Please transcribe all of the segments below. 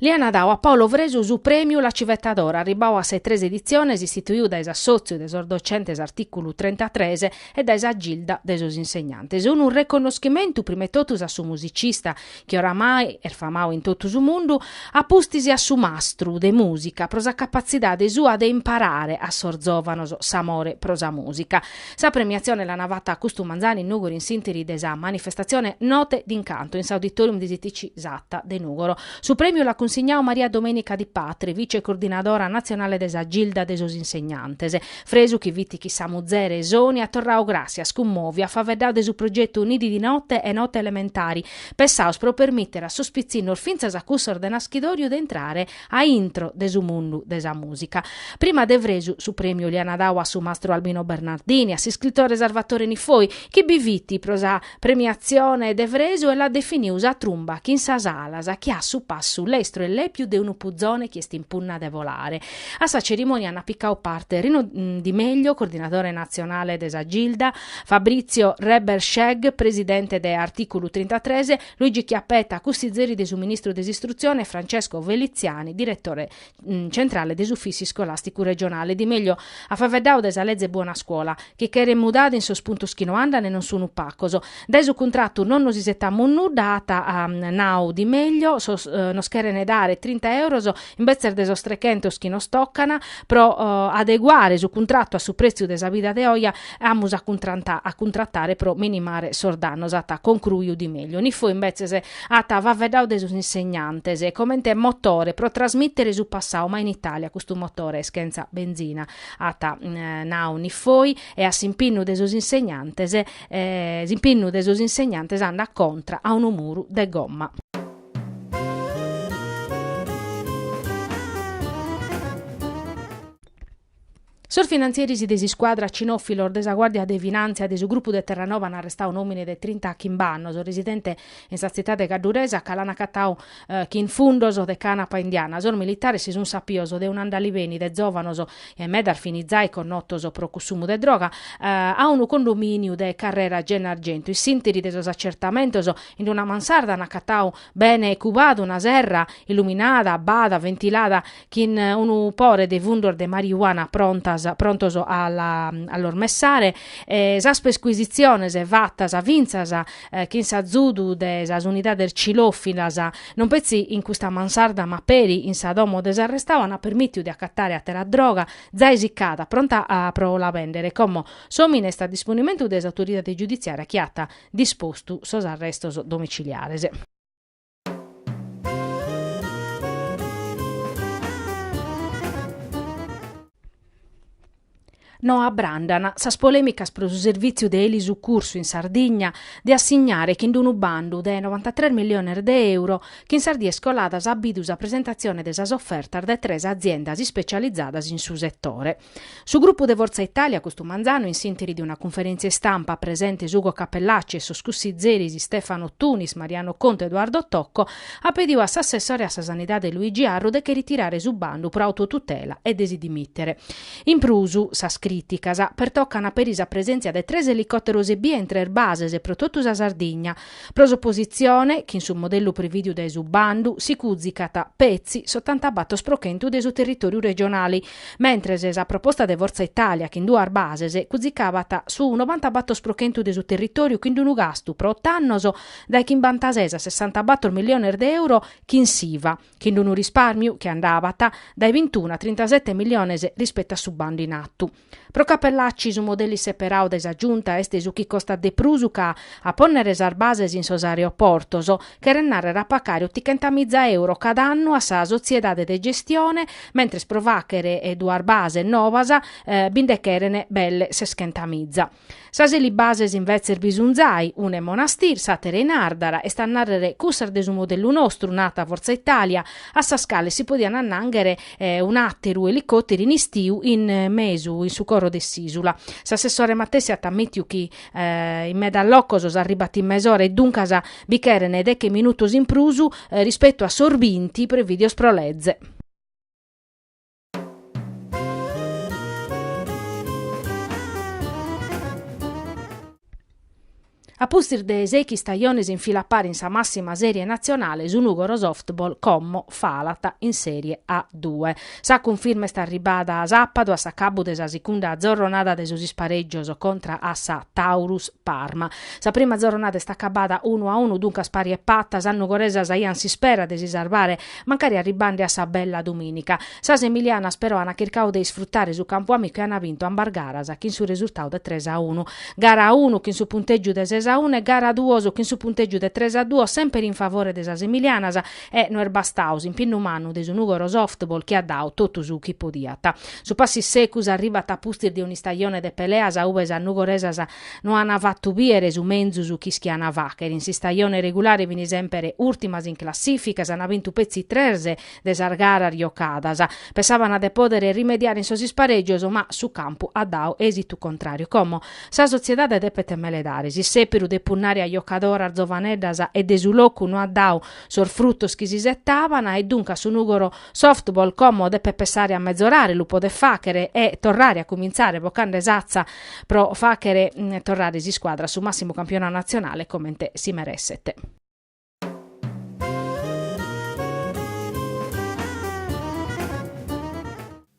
Li ana dau a Paolo Fresu su Prèmiu La Civetta d'oro, arribbau a sas tres editziones, istituiu dae s'assòtziu de sos docentes artìculu 33 e dae sa Gilda de sos insegnantes. Unu reconnoschimentu, prima 'e totus, a su musicista, chi oramai est famau in totu su mundu, a pustis a su mastru de mùsica pro sa capatzidade sua de imparare a sos zòvanos s'amore pro sa mùsica. Sa premiatzione l'ana fata custu manzanu in Nùgoro in s'interi de sa manifestatzione Note d'incanto in s'Auditorium de s'ITC Satta de Nùgoro. Su prèmiu l'at cunsignau Maria Domenica Di Patre, vice-coordinadora natzionale de sa Gilda de sos Insegnantes, Fresu chi fit chin sa muzere Sonia at torrau gràssias cummòviu, at faveddau de su progetu Nidi di note e Note elementari, pensaos pro permìtere a sos pitzinnos fintzas a cussos de naschidòriu de intrare a intro de su mundu de sa mùsica. Prima de Fresu su prèmiu l'aiana dau a su mastru Albino Bernardini, a s'iscritore Sarvatore Niffoi, chi bi fit pro sa premiatzione de Fresu e l'at definiu sa trumba chin sas alas chi at su passu lestru e lèpiu de unu puzone chi est in punna de volare. A sa cerimònia ana picau parte Rino Di Meglio, coordinadore natzionale de sa Gilda, Fabrizio Reberschegg, presidente de Articulu trintatres, Luigi Chiappetta, cussizeri de su ministru de s'Istrutzione e Francesco Feliziani, diretore centrale de s'Ufìssiu Iscolasticu Regionale, Di Meglio at faveddau de sa leze Buona Scuola, chi cheret mudada in sos puntos chi no andan e non sunu pacos. Dae su cuntratu non nos isetamus nudda, at nau Di Meglio, nos cheren dare trinta euros imbetzes de sos trechentos chi nos tocan pro adeguare su cuntratu a su pretziu de sa vida de oje e amus a cuntratare pro minimare sos dannos, at concruiu Di Meglio. Niffoi imbetzes at faveddau de sos insegnantes comente motore pro trasmittere su passau, ma in Italia custu motore est chentza benzina, at nau Niffoi, e a s'impinnu de sos insegnantes, s'impinnu de sos insegnantes andat contra a unu muru de gomma. Sos finantzieris de s'iscuadra cinòfilos de sa Guàrdia de Finàntzia de su grupu de Terranova an arrestau un'òmine de trintachimbe annos, residente in sa tzitade cadduresa, ca l'an acatau chin fundos de canapa indiana. Sos militares si sunt sapios de un'andaliveni de zòvanos e medas fini zai connotos pro cussumu de droga, a unu condomìniu de Carrera Gennargentu. In s'ìnteri de sos acertamentos, in una mansarda an acatau, bene cubadu, una serra illuminada, bada, ventilada, chin unu pore de fundos de marijuana prontas prontos a la a los messare e sas percuisitziones fattas fintzas chin s'azudu de sas unidades cinòfilas non petzi in custa mansarda ma peri in sa domo de s'arrestadu an permìtiu de acatare àtera droga zai siccada pronta a pro la bèndere como s'òmine est a disponimentu de s'autoridade giuditziària chi at dispostu sos arrestos domiciliares. No abrandan sas polèmicas pro su servìtziu de elisucursu in Sardigna de assignare chin unu bandu de novantatres milliones de euro chi in sas dies coladas at bidu sa presentatzione de sas ofertas dae tres aziendas ispetzializadas in su setore. Su grupu de Forza Italia custu manzanu in s'interi de una cunferèntzia istampa, presentes Ugo Cappellacci e sos cussizeris Stefano Tunis, Mariano Contu e Eduardo Tocco, at pediu a s'assessore a sa Sanidade Luigi Arru de che ritirare su bandu pro autotutela e de si dimìtere. In prus, sas crìticas pertocana peri sa presèntzia de tres elicòteros ebbia in tres bases pro totu sa Sardigna. Pro s'opositzione, chin su modellu prevìdiu dae su bandu, si cùzicat, petzi, s'otanta batos pro chentu de su territòriu regionale, Mentres sa proposta de Fortza Italia chin duas bases cuzicabat su nobanta-batos pro chentu de su territòriu chin unu gastu pro oto annos dae chimbantases a sessantabatos milliones de euro chin s'Iva, chin unu rispàrmiu chi andabat dae bintunu a trintasete milliones rispetu a su bandu in atu. Pro Cappellacci su modelli seperadu dae sa Giunta est su chi costat de prus ca a pònnere sas bases in sos aeroportos cheret nàrrere a pacare otochentamìza euro cada annu a sa sotziedade de gestione, mentres pro fàghere duas bases nobas bi nde cheren belle seschentamìza. Sas elibases invetzes bi sun zai, una in Monastir, s'àtera in Àrdara, est a nàrrere cussas de su modellu nostru, naat Forza Italia, a sas cales si podian annànghere un'àteru elicòteru in istiu in mesu, in su coro de s'ìsula. S'assessore matessi at amìtiu chi In medas locos s'arribat in mesora e duncas bi cheren deche minutos in prus rispetu a sos binti prevìdios pro leze. A pustis de sèichi istajones in fila a pari in sa massima serie nazionale su Nugoro Softball como falat in Serie A-Due. Sa cunfirma est arribada sàpadu a s'acabu de sa sigunda zorronada de sos isparègios contra a sa Taurus Parma. Sa prima zorronada est acabada unu a unu, duncas pari e pata, sas nugoresas aiant s'ispera de si sarvare mancari arribande a sa bella dumìnica. Sas emilianas però ant chircadu de isfrutare su campu amicu e ant bintu ambas garas chin su resurtadu de tres a unu. Gara unu chin su puntègiu de ses a unu e gara duos chin su puntègiu de tres a duos semper in favore de sas emilianas, E no est bastadu s'impinnu mannu de su Nùgoro Softball chi at dadu totu su chi podiat. Su passu in secus arribat a pustis de un'istajone de peleas a ue sas nugoresas no ant fatu bìere su menzus chi ischiant fàghere. In s'istajone regulare fin semper ùrtimas in classìfica, s'ant bintu petzi tres de sas garas giocadas. Pessàbant de pòdere rimediare in sos isparègios ma su campu at dadu èsitu contràriu. Como sa sotziedade depet meledare s'issèperu de punnare a giocadoras giovaneddas e de su locu no at dadu sos frutos chi si settaban e duncas su nugoro softball como depet pessare a mezorare lu podet faghere e torrare a cumintzare bocande s'atza pro faghere torrare s'iscuadra a su massimu campionau nazionale comente si meresset.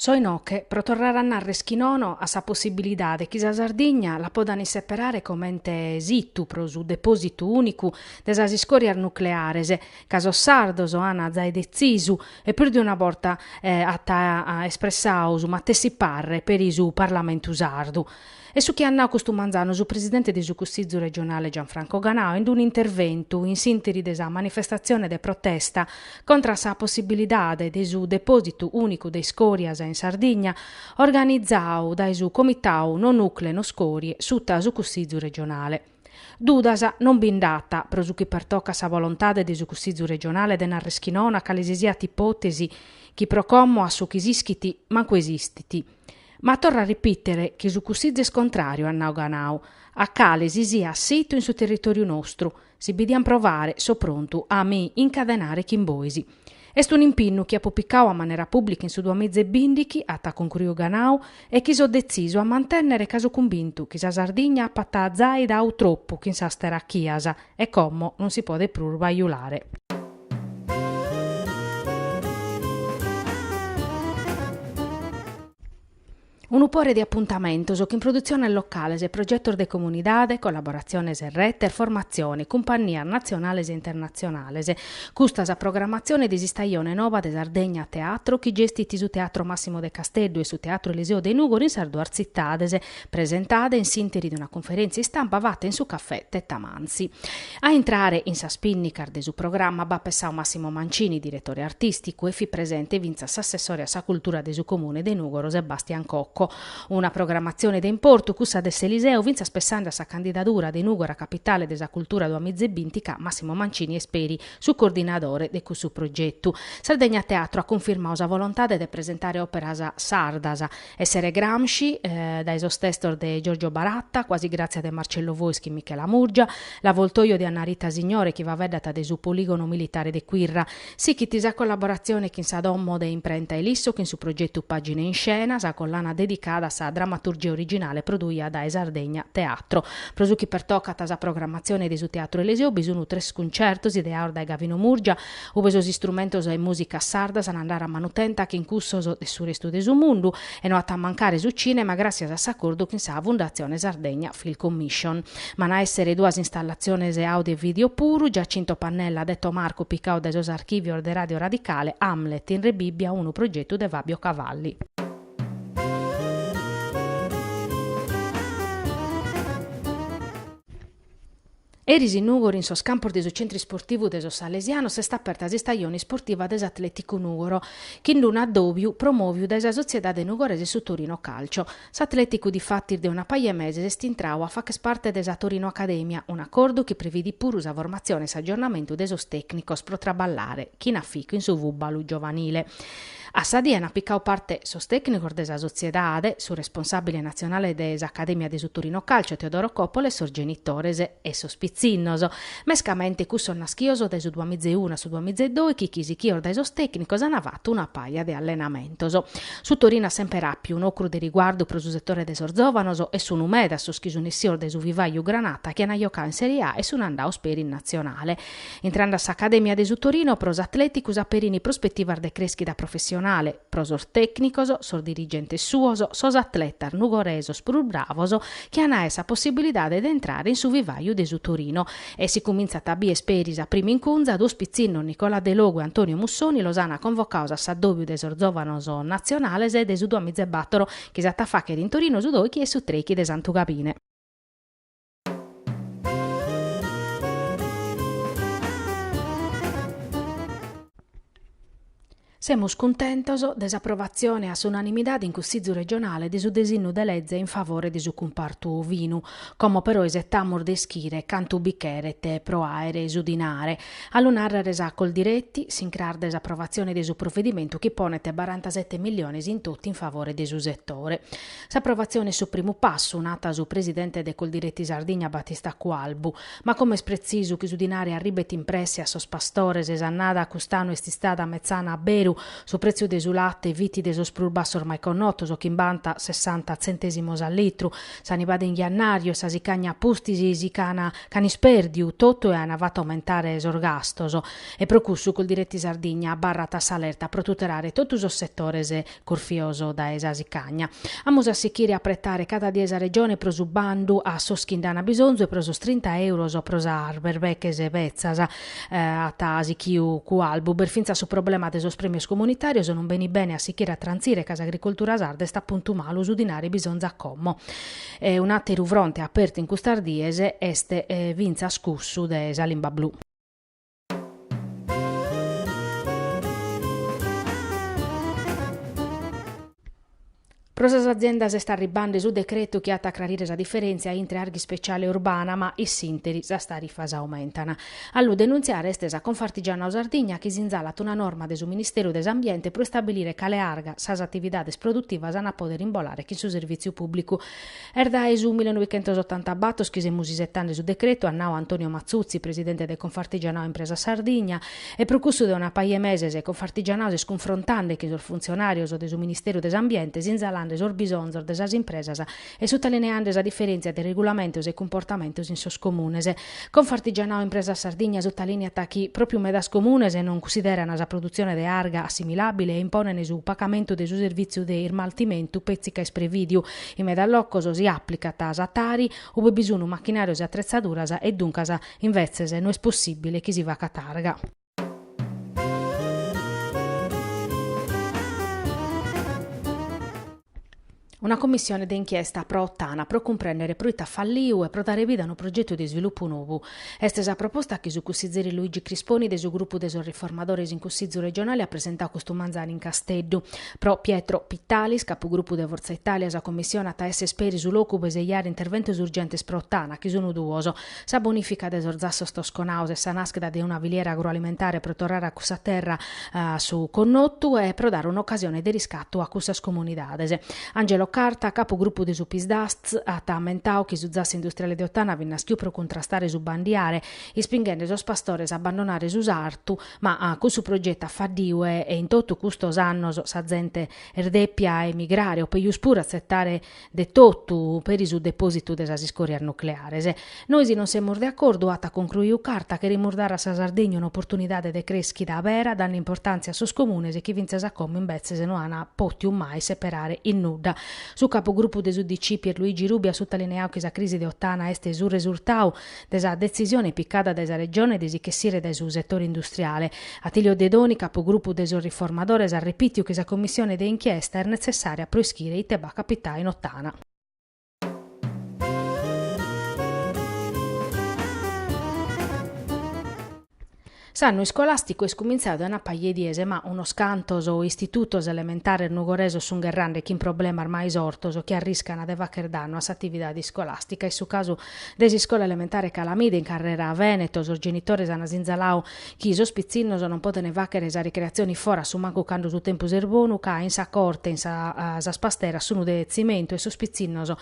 So inoghe pro torrare a narrer chi nono a sa possibilidade chi sa Sardigna la podan isseperare comente situ pro su depositu unicu de sas iscorias nucleares, ca sos sardos an zai detzisu e prus de una borta at espressadu su matessi parre peri su Parlamentu sardu. Est su chi at nau custu manzanu su presidente de su Cussìgiu regionale Gianfranco Ganau in un'interventu in s'interi de sa manifestatzione de protesta contra sa possibilidade de su depòsitu ùnicu de iscòrias in Sardigna organizau dae su Comitau No Nucle No Scorie suta su Cussìgiu regionale. Dudas non bi nd'at, pro su chi pertocat sa volontade de su Cussìgiu Regionale de nàrrere chi nono a cale si siat ipòtesi chi pro como a su chi s'ischit mancu esistit. Ma torro a ripìtere chi su Cussìgiu est contràriu at nau Ganau, a cale si siat situ in su territòriu nostru, si bi diant provare so prontu a mi incadenare chin bois. Est un'impinnu chi apo picau a manera pùblica in su duamiza e bìndighi, at concruiu Ganau, e chi so detzisu a mantènnere ca so cumbintu chi sa Sardigna apat zai dau tropu chin sas terachias e como non si podet prus bajulare. Unu pore de apuntamentos chin produtziones locales e progetos de comunidade, collaboratziones e retes, formatzione, cumpannias natzionales e internatzionales. Custa sa programatzione de s'istajone nova de Sardegna Teatro chi gestit su Teatro Massimo de Casteddu e su Teatro Eliseo de Nùgoro in sas duas tzitades, presentada in s'interi de una cunferèntzia istampa fata in su Caffè Tettamanzi. A intrare in sas pìnnicas de su programma b'at pessadu Massimo Mancini, diretore artìsticu, e fit presente fintzas s'assessore a sa cultura de su Comune de Nùgoro Sebastian Cocco. Una programmatzione de importu cussa de s'Eliseo fintzas pessande a sa candidadura de Nùgoro a capitale de sa cultura duamiza e binti ca Massimo Mancini est peri su coordinadore de cussu progetu. Sardegna Teatro at cunfirmadu sa volontade de presentare òperas sardas Essere Gramsci, dae sos testos de Giorgio Baratta, Quasi Grazia de Marcello Fois chin Michela Murgia, L'Avvoltoio de Anna Rita Signore chi faveddat de su Poligono Militare de Quirra. Sichit sa collaboratzione chin sa Domo de Imprenta Ilisso chin su progetu Pagine in Scena, sa collana dedicada a sa dramaturgia originale produida dae Sardegna Teatro. Pro su chi pertocat sa programmatzione de su Teatru Eliseo bi sun tres cuncertos ideados dae Gavino Murgia, ube sos istrumentos e mùsicas sardas an a andare a manutenta chin cussos de su restu de su mundu e no at a mancare su cìnema gràtzias a s'acordu chin sa Fundatzione Sardegna Film Commission. Ma an a èssere duas installatziones àudio e vìdeo puru, Giacinto Pannella detto Marco picau dae sos archìvios de Ràdio Radicale, Hamlet in Rebibbia, unu progetu de Fabio Cavalli. Eris in Nùgoro in sos campos de su Centru Isportivu de sos Salesianos est aperta s'istajone isportiva de s'Atleticu Nugoro, chin d-unu addòbiu promòviu dae sa sotziedade nugoresa e su Torino Calcio. S'Atleticu difatis de una paja 'e meses est intrau a fàcher parte de sa Torino Academia, un'acordu chi previdit puru sa formatzione e s'aggiornamentu de sos tècnicos pro traballare, chin aficu in su fùbalu giovanile. A sa die ant picau parte sos tècnicos de sa sotziedade, su responsàbile natzionale de s'Acadèmia de su Torino Calcio Teodoro Coppola e sos genitores e sos pitzinnos. Mescamente cussos naschios dae su duamiza e unu a su duamiza e doichi chi sichios dae sos tècnicos ant fatu una paja de allenamentos. Su Torino at semper àpiu un'ocru de riguardu pro su setore de sos zòvanos e sunu medas sos chi sun essios dae su vivàiu granata chi ant jocau in Serie A e sun andaos peri in natzionale. Intrende a s'Acadèmia de su Torino, pro s'Atlèticu s'aperin prospetivas de crèschida professionale, pro sos tècnicos, sos dirigentes suos, sos atletas nugoresos prus bravos chi an aer sa possibilidade de intrare in su vivàiu de su Torino. E si cumintzat a bier peri sa prima incunza, duos pitzinnos, Nicola Delogu e Antonio Mussoni, los an convocaos a s'addòbiu de sos zòvanos natzionales de su duamiza e battoro chi s'at a fàchere in Torino su doichi e su treichi de Santu Gabine. Semus cuntentos de s'aprovatzione a s'unanimidade in Cussizu Regionale de su desinnu de leze in favore de su cumpartu ovinu, como però isetamus de ischire cantu bi cheret pro àere su dinare, a lu nàrrere est sa Coldiretti, s'incras de s'aprovatzione de su provedimentu chi ponet barantasete milliones in totu in favore de su setore. S'aprovatzione est su primu passu, nat su presidente de Coldiretti Sardigna Battista Cualbu. Ma como est pretzisu chi su dinari arribet in presse a sos pastores. S'annada cust'annu est istada metzana a beru, su pretziu de su latte fit de sos prus bassos mai connotos, chimbanta sessanta tzentesimos a litru. Sa nibada in jannàriu e sa sicagna a pustis si ch'an ch'an ispèrdiu totu e an fatu aumentare sos gastos. E pro cussu Coldiretti Sardigna abarrat a s'alerta pro tutelare totu sos setores curfios dae sa sicagna. Amus a sichire a pretare cada die sa Regione pro su bandu a sos chi nd'an bisonzu e pro sos trinta euros pro sas berbeches betzas, at sichiu Cualbu. B'est fintzas su problema de sos prèmios comunitàrios, non benit bene a sichire a trantzire ca s'agricultura sarda est a puntu malu, su dinari bisonzat como. Un'àteru fronte apertu in custas dies est fintzas cussu de sa limba blu. Pro sas aziendas est arribbende su decretu chi at a acrarire sa diferèntzia intre arga ispeciale e urbana ma iss'interi sas tarifas aumentan. A lu denuntziare est sa Confartigianao Sardigna chi sinzalat una norma de su Ministeru de s'Ambiente pro istabilire cale arga sas atividades produtivas an a pòdere imbolare chin su servìtziu pùblicu. Est dae su millenoichentosottanta bator chi semus isetende su decretu, at nau Antonio Mazzuzzi, presidente de Confartigianao Impresa Sardigna, e pro cussu de una paja 'e meses Confartigianao s'est cunfrontende chin sos funtzionàrios de su Ministeru de s'Ambiente sinzalende sos bisonzos de sas impresas e sutalineende sa diferèntzia de regulamentos e cumportamentos in sos comunes. Confartigianao Impresa Sardigna sutalìniat chi pròpiu medas comunes non cussiderana sa produtzione de arga assimilàbile e imponene su pagamentu de su servìtziu de ismaltimentu petzi ca isprevìdiu, In medas locos si aplicat sa tari, ube bi sunu machinarios e atretzaduras e duncas invetzes no est possibile chi si facat arga. Una commissione de inchiesta pro Ottana pro cumprendere proite at falliu e pro dare vida a unu progetu de isvilupu nobu. Est sa proposta chi su cussizeri Luigi Crisponi de su grupu de sos Riformadores in Cussizu regionale at presentau custu manzanu in Casteddu. Pro Pietro Pittalis, capugrupu de Fortza Italia, sa commissione at a esser peri su locu pro isejare interventos urgentes pro Ottana, chi sun duos, sa bonifica de sos zassos tosconaos e sa naschida de una filiera agroalimentare pro torrare a cussa terra a su connotu e pro dare un'ocasione de riscatu a cussas comunidades. Angelo Carta, capu grupu de su Psd'Az, at ammentau chi su zassu industriale de Ottana fit naschiu pro cuntrastare su bandiare, ispinghende sos pastores a abbandonare su sartu, ma cussu progetu at faddiu e in totu custos annos sa zente est dèpia emigrare o pejus puru atzetare de totu peri su depositu de sas iscòrias nucleares. Nois non semus de acordu, at concruiu Carta, cherimus dare a sa Sardegna un'oportunidade de crèschida bera dande importàntzia a sos comunes chi fintzas a como imbetzes no an pòtiu mai seperare in nudda. Su capugrupu de s'UDC Pierluigi Rubiu at sutalineau chi sa crisi de Ottana est su resurtau de sa detzisione picada dae sa Regione de si ch'essire dae su setore industriale. Attilio Dedoni, capugrupu de sos Riformadores, at repìtiu chi sa commissione de inchiesta est netzessària pro ischire ite b'at capitau in Ottana. S'annu iscolàsticu est cumintzadu dae una paja 'e dies, ma unos cantos istitutos elementares nugoresos sun gherrande chin problemas mai sortos chi arriscana de fagher dannu a s'atividade iscolàstica. Est su casu de s'iscola elementare Calamida in Carrera Veneto, sos genitores ana sinzaladu chi sos pitzinnos non podent fàghere sa ricreatzione foras su mancu cando su tempus est bonu ca in sa corte sas pasteras sun de tzimentu e sos pitzinnos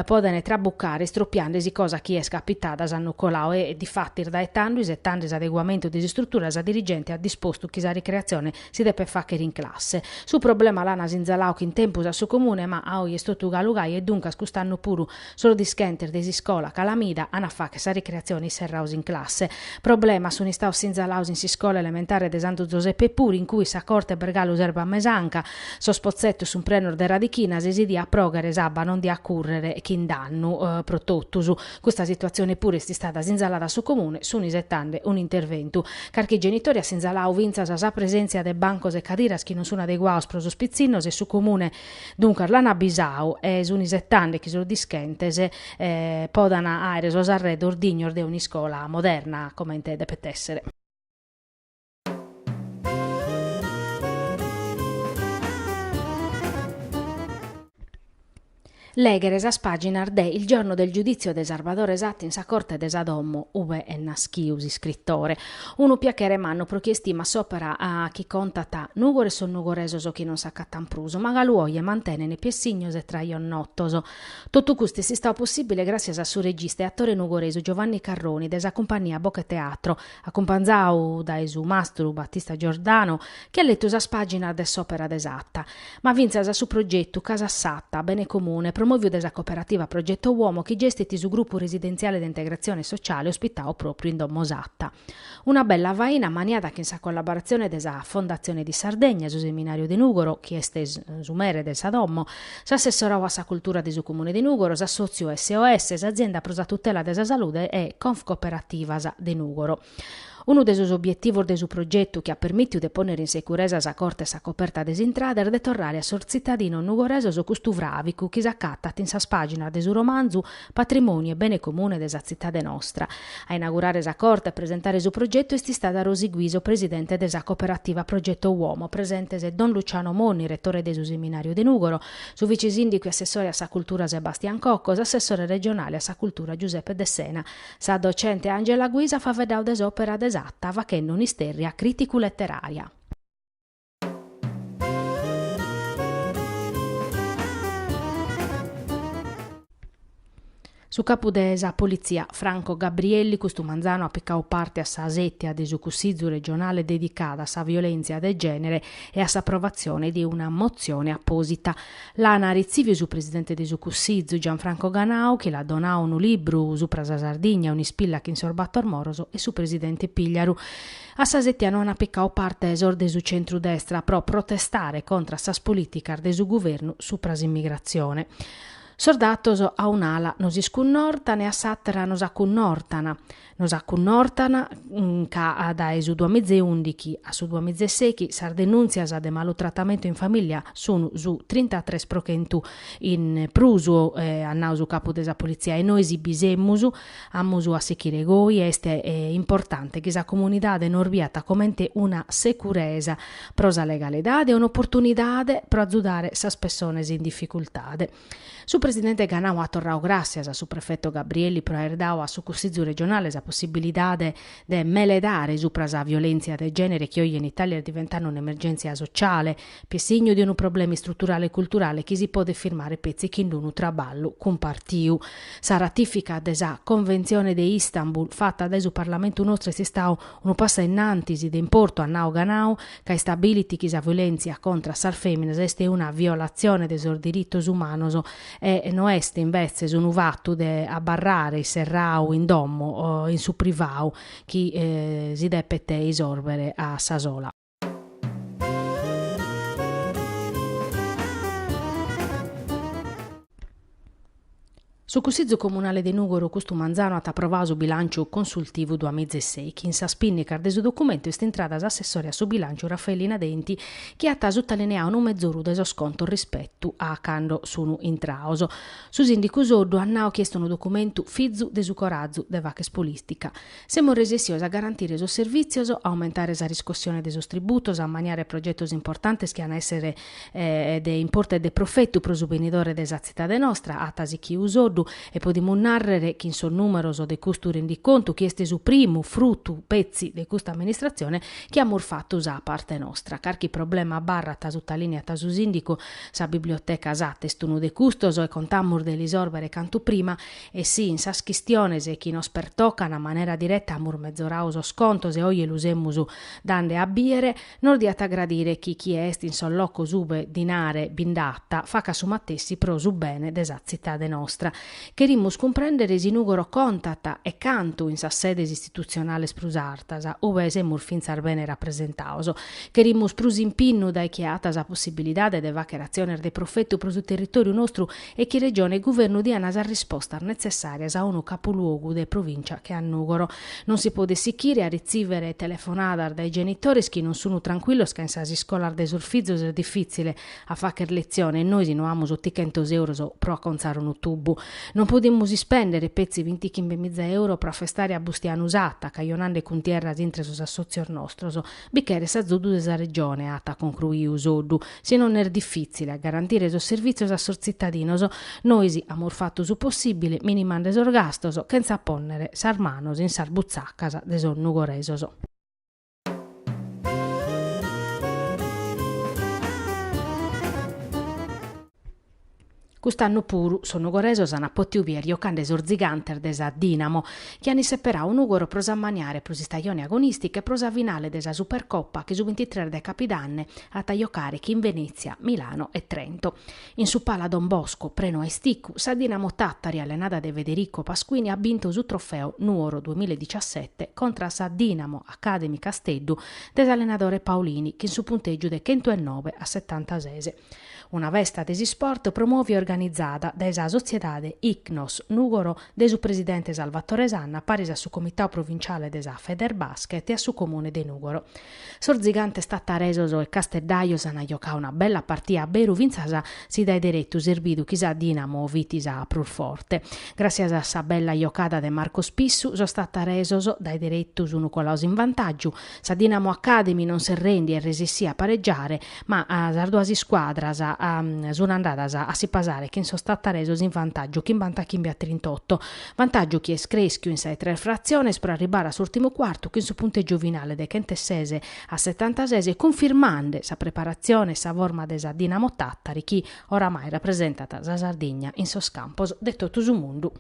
podent trabucare istropiande·si cosa chi est capitada s'annu coladu e difatis dae tando isetande s'adeguamentu de s'istrutura sa dirigente at dispostu chi sa ricreatzione si depet fàghere in classe. Su problema l'an sinzaladu chin tempus a su comune ma a oje est totu galu gai e duncas cust'annu puru Sos dischentes de s'iscola Calamida an a fagher sa ricreatzione isserrados in classe. Problemas sun istados sinzalados in s'iscola elementare de Santu Zoseppe puru in cue sa corte b'est galu s'erba mesanca, sos potzetos sun prenos de radichinas e si diat proghere s'abba non diat currere chin dannu pro totus. Custa situatzione puru est istada sinzalada a su Comune, sun isetande un'interventu. Carchi genitore at sinzaladu fintzas sa presèntzia de bancos e cadiras chi non sun adeguados pro sos pitzinnos e su Comune, Duncas l'an abbisau e sun isetande chi sos dischentes podan àere sos arredos dignos de un'iscola moderna, comente depet èssere. Lèghere sas pàginas de Il giorno del giudizio de Sarbadore Satta in sa corte de sa domo ube est naschidu s'iscritore, Unu piachere mannu pro chie estimat s'òpera chi contat Nùgoro e sos nugoresos chi non s'acatant prus, ma galu oje mantenent piessignos e trajos notos. Totu custu est istadu possìbile gràssias a su regista e atore nugoresu Giovanni Carroni de sa cumpagnia Bocheteatro, acumpanzadu dae su mastru Battista Giordano, chi at letu sas pàginas de s'òpera de Satta. ma fintzas a su progetu Casa Satta, bene comune, promòviu de sa cooperativa Progetto Uomo chi gestit su grupu residentziale de integratzione sociale ospitadu pròpriu in Domo Satta. Una bella faina maniada chin sa collaboratzione de sa Fondazione di Sardegna, su Seminariu de Nùgoro, chi est su mere de sa domo, s'assessorau a sa cultura de su Comune de Nùgoro, s'assòtziu SOS, s'Azienda pro sa tutela de sa salude e Confcooperativas de Nùgoro. Unu de sos obietivos de su progetu chi at permìtiu de pònnere in securesa sa corte e sa coperta de s'intrada est de torrare a sos tzitadinos nugoresos custu fràvicu chi s'acatat in sas pàginas de su romanzu, patrimòniu e bene comune de sa tzitade nostra. A inaugurare sa corte e presentare su progetu est istada Rosi Guiso, presidente de sa Cooperativa Progetto Uomo. Presentes don Luciano Monni, retore de su Seminàriu de Nùgoro, su vice-sìndicu e assessore a sa cultura Sebastian Cocco, s'assessore regionale a sa cultura Giuseppe Dessena, Sa docente Angela Guisa at faveddau de s'òpera de Satta fachende un'istèrria crìticu-leterària. Su capu de sa politzia, Franco Gabrielli, custu manzanu at picau parte a sa sètia de su Cussizu regionale dedicada a sa violèntzia de gènere e a s'aprovatzione de una motzione apòsita. L'an retziviu su presidente de su Cussizu, Gianfranco Ganau, chi l'at donau unu libru supra sa Sardigna, un'ispilla chin sos bator moros, e su presidente Pigliaru. A sa sètia no an picau parte sos de su centru-destra pro protestare contra a sas polìticas de su guvernu supra s'immigratzione. Sos datos a un'ala nos iscunnortan e a s'àtera nos acunnortan. Nos acunnortan ca dae su duamizeundichi a su duamizeseichi sas denùntzias de malutratamentu in famìllia sunt su trintatres pro chentu in prus, at nau su capu de sa politzia, e nois bi semus, amus a sichire goi e est importante chi sa comunidade nos biat comente una securesa pro sa legalidade e un'oportunidade pro azudare sas pessones in dificultade. Su presidente Ganau at torrau gràssias a su prefetu Gabrielli pro aer dau a su Cussizu regionale sa possibilidade de meledare supra sa violèntzia de gènere chi oje in Itàlia est diventande un'emergèntzia sociale chi est signu de unu problema istruturale e culturale chi si podet firmare petzi chin d'unu traballu cumpartiu. Sa ratìfica de sa Conventzione de Istanbul fata dae su Parlamentu nostru est istau unu passu a in antis de importu, at nau Ganau, ca istabilit chi sa violèntzia contra a sas fèminas est una violatzione de sos diritos umanos e no est imbetzes unu fatu de abarrare isserrau in domo o in su privau chi si depet isòrbere a sa sola. Su Cussizu Comunale de Nùgoro custu manzanu at aprovau su bilànciu consultivu duamizeseichi. In sas pìnnicas de su documentu est intrada s'assessore a su bilànciu Raffaellina Denti chi at sutalineau unu mezoru de sos contos rispetu a cando sunu intraos. Su sìndicu Soddu at nau chi est unu documentu fizu de su corazu de fàcher polìtica. Semus resessios a garantire sos servìtzios, a aumentare sa riscossione de sos tributos, a ammaniare progetos importantes chi an a èssere de importu e de profetu pro su benidore de sa tzitade nostra, at sichiu Soddu, e podimus nàrrere chi in sos nùmeros de custu rendicontu, chi est su primu frutu petzi de custa amministratzione, chi amus fatu sa parte nostra. Carchi problema abarrat, sutalìneat su sìndicu, sa biblioteca Satta est unu de custos e contamus de l'isòrbere cantu prima. E si, in sas chistiones chi nos pertocan a manera direta amus mezoradu sos contos e oje lu semus dande a bìere, nos diat a gradire chi chie est in sos locos ube dinare bi nd'at, facat su matessi pro su bene de sa tzitade nostra. Cherimus cumprèndere si Nùgoro contat, e cantu, in sas sedes istitutzionales prus artas, ube semus fintzas bene rapresentados. Cherimus prus impinnu dae chie at sa possibilidade de fàghere atziones de profetu pro su territòriu nostru e chi Regione e Guvernu diana sas rispostas netzessàrias a unu capuluogu de provìncia che a Nùgoro. Non si podet sichire a ritzìvere telefonadas dae genitores chi non sunu trancuillos ca in sas iscolas de sos fizos est difìtzile a fagher letzione e nois no amus otichentos euros pro acontzare unu tubu. Non podimus ispèndere petzi bintichimbe miza euro pro afestare a Bustianu Satta, cajonande cuntierras intre sos assòtzios nostros. Bi cheret s'azudu de sa Regione, at concruiu Soddu, si non est difìtzile a garantire sos servìtzios a sos tzitadinos. Nois amus fatu su possìbile minimande sos gastos chentza pònnere sas manos in sas butzacas de sos nugoresos. Cust'annu puru sos nugoresos ant pòtidu bider jocande sos zigantes de sa Dinamo, chi ant isseperadu Nùgoro pro s'ammaniare pro s'istajone agonìstica e pro sa finale de sa Supercopa chi su bintitres de capidanne at a jocare chin Venètzia, Milano e Trento. In su Pala Don Bosco, prenu a isticu, sa Dinamo Tàtari allenada dae Federico Pasquini at bintu su trofeo Nùgoro duamilla e digiasete contra a sa Dinamo Academy Casteddu de s'allenadore Paolini chin su puntègiu de chentu e noe a setantases. Una festa de s'isport promòvia e organizada dae sa Sotziedade Icnos Nùgoro de su presidente Salvatore Sanna paris a su comitau provinciale de sa Federbasket e a su comune de Nùgoro. Sos zigantes tataresos e casteddajos an jocau una bella partia a beru fintzas si dae deretu s'est bidu chi sa Dinamo fit sa prus forte. Gràssias a sa bella jocada de Marco Spissu sos tataresos dae deretu sunu colaus in vantàgiu Sa Dinamo Academy non s'est rèndia e est resissia a pareggiare, ma sas duas iscuadras sunt andadas a si pasare chin sos tattaresos in vantàgiu chimbanta chimbe a trintotto, vantàgiu chi est crèschiu in sas tres fratziones pro arribbare a s'ùrtimu cuartu chin su puntègiu finale de chentu e ses a setantases cunfirmande sa preparatzione e sa forma de sa Dinamo Tàtari chi oramai rapresentat sa Sardigna in sos campos de totu su mundu.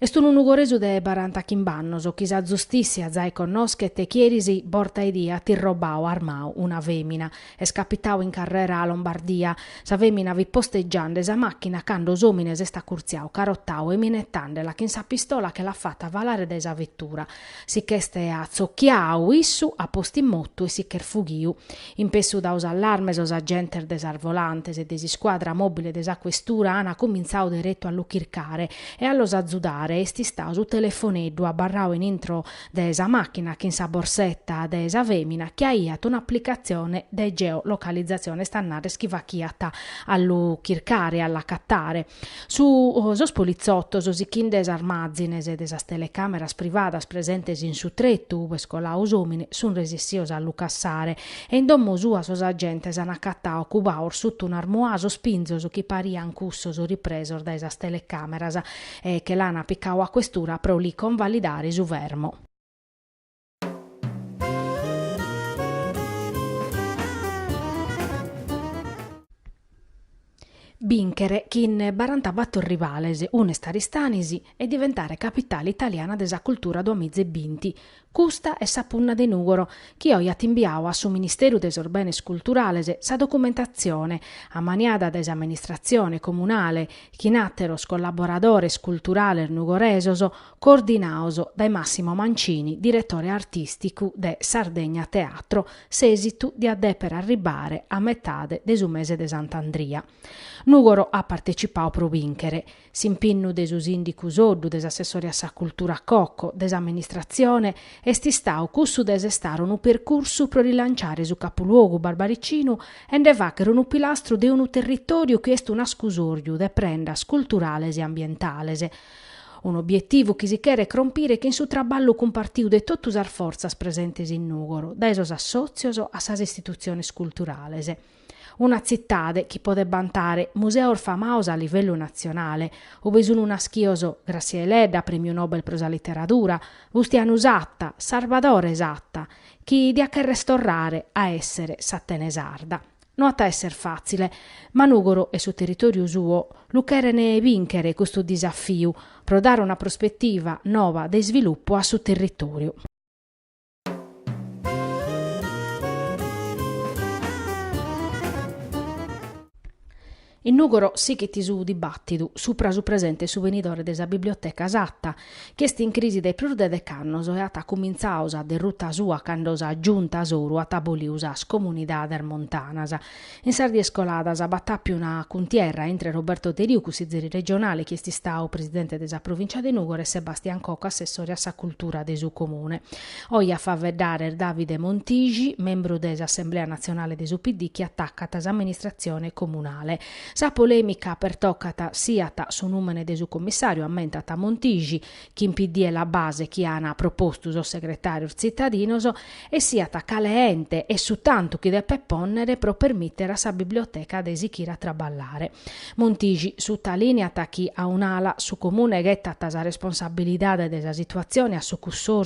Est unu nugoresu de baranta chimb'annos chi sa zustìssia zai connoschet e chi eris borta 'e die at irrobau armau una fèmina. Est capitau in carrera Lombardia. Sa fèmina fit postegiande sa màchina cando s'òmine s'est acurtziau carotau e minetande·la chin sa pistola che l'at fata falare dae sa vetura. Si ch'est atzocchiadu issu at postu in motu e si ch'est fughiu. In pessu dadu s'allarme sos agentes de sas volantes e de s'iscuadra mobile de sa questura ana comintzadu deretu a lu chircare e a los azudare est istadu su telefoneddu abarradu in intro de sa machina chin sa borsetta de sa femina chi aiat un'applicatzione de geo-localizzazione est a narrer chi faghiat a lu chircare e a l'acattare. Su sos politzotos, sichinde sas mazines de sas telecàmeras privadas presentes in su tretu ube est coladu s'òmine, sunt resissios a lu cassare e in domo sua sos agentes an acatadu cubados suta un'armuà sos pinzos chi parian cussos ripresos dae sas telecàmeras e che l'ana picadu a questura pro li convalidare su fermo. Bìnchere chin barantabàtor rivales, unu est Aristanis, e diventare capitale italiana de sa cultura duamiza e binti, custa est sa punna de Nùgoro chi oje at imbiadu a su Ministeru de sos Benes Culturales sa documentatzione, ammaniada dae s'amministratzione comunale chin àteros collaboradores culturales nugoresos, coordinados dae Massimo Mancini, diretore artìsticu de Sardegna Teatro, s'èsitu diat dèpere arribbare a metade de su mese de Sant'Andria. Nùgoro at partecipadu pro bìnchere. S'impinnu de su sìndicu Soddu, de s'assessore a sa cultura Cocco, de s'amministratzione est istadu cussu de sestare unu percursu pro rilanciare su capuluogu barbaricinu e nde fàghere unu pilastru de unu territòriu chi est un'ascusòriu de prendas culturales e ambientales, un'obietivu chi si cheret cròmpere chin su traballu cumpartiu de totu sas fortzas presentes in Nùgoro, dae sos assòtzios a sas istitutziones culturales. Una tzitade chi podet bantare museos famados a livellu natzionale, ue sunt nàschidos Gràssia Deledda, Prèmiu Nobel pro sa Literadura, Bustianu Satta, Sarbadore Satta, chi diat cherrer torrare a èssere s'Atene Sarda. No at a èsser fàtzile, ma Nùgoro e su territòriu suo lu cheren bìnchere custu disafiu, pro dare una prospetiva noba de isvilupu a su territòriu. In Nùgoro sighit su dibàtidu supra su presente e su benidore de sa Biblioteca Satta, chi est in crisi dae prus de dec'annos e at cumintzadu sa derruta sua cando sa Giunta Soru at abolidu sas Comunidades Montanas. In sas dies coladas b'at àpiu una cuntierra intre Roberto Deriu, cussizeri regionale chi est istadu presidente de sa Provìncia de Nùgoro, e Sebastian Cocco, assessore a sa Cultura de su Comune. Oje a faeddare est Davide Montisci, membru de s'Assemblea Natzionale de su PD chi atacat s'amministratzione comunale. Sa polèmica pertocat siat su nùmene de su commissàriu, ammentat Montisci, chi in PD e La Base chi ana propostu sos segretàrios tzitadinos, e siat cale ente e su tantu chi depet pònnere pro permìtere a sa biblioteca de sighire a traballare. Montisci, sutalìniat chi a un'ala su Comune ghetat sa responsabilidade de sa situatzione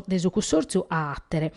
de su cussòrtziu a àtere.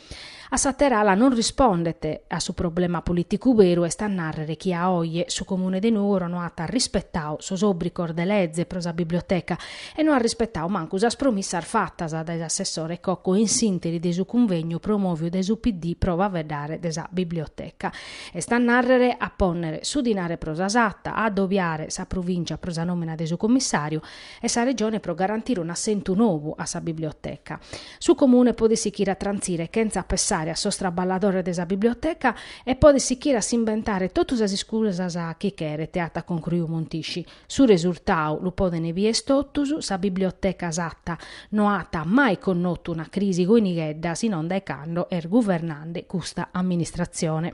A s'àtera ala non rispondet a su problema polìticu beru est a nàrrere chi a oje su Comune de Nùgoro no at rispetadu sos òbrigos de leze pro sa biblioteca e no at rispetadu mancu sas promissas fatas dae s'assessore Cocco in s'ìnteri de su cunvegnu promòviu dae su PD pro faeddare de sa biblioteca. Est a nàrrere, a pònnere su dinare pro sa Satta, a adobiare sa Provìncia pro sa nòmina de su commissàriu e sa Regione pro garantire un'assentu nou a sa biblioteca. Su Comune podet sichire a trantzire chentza pessare a sos traballadores de sa biblioteca e podet sichire a s'imbentare totu sas iscusas chi cheret, at concruiu Montisci, Su resurtau lu podent bìer totus, sa biblioteca Satta no at mai connotu una crisi goi nighedda si non dae cando est guvernande custa amministratzione.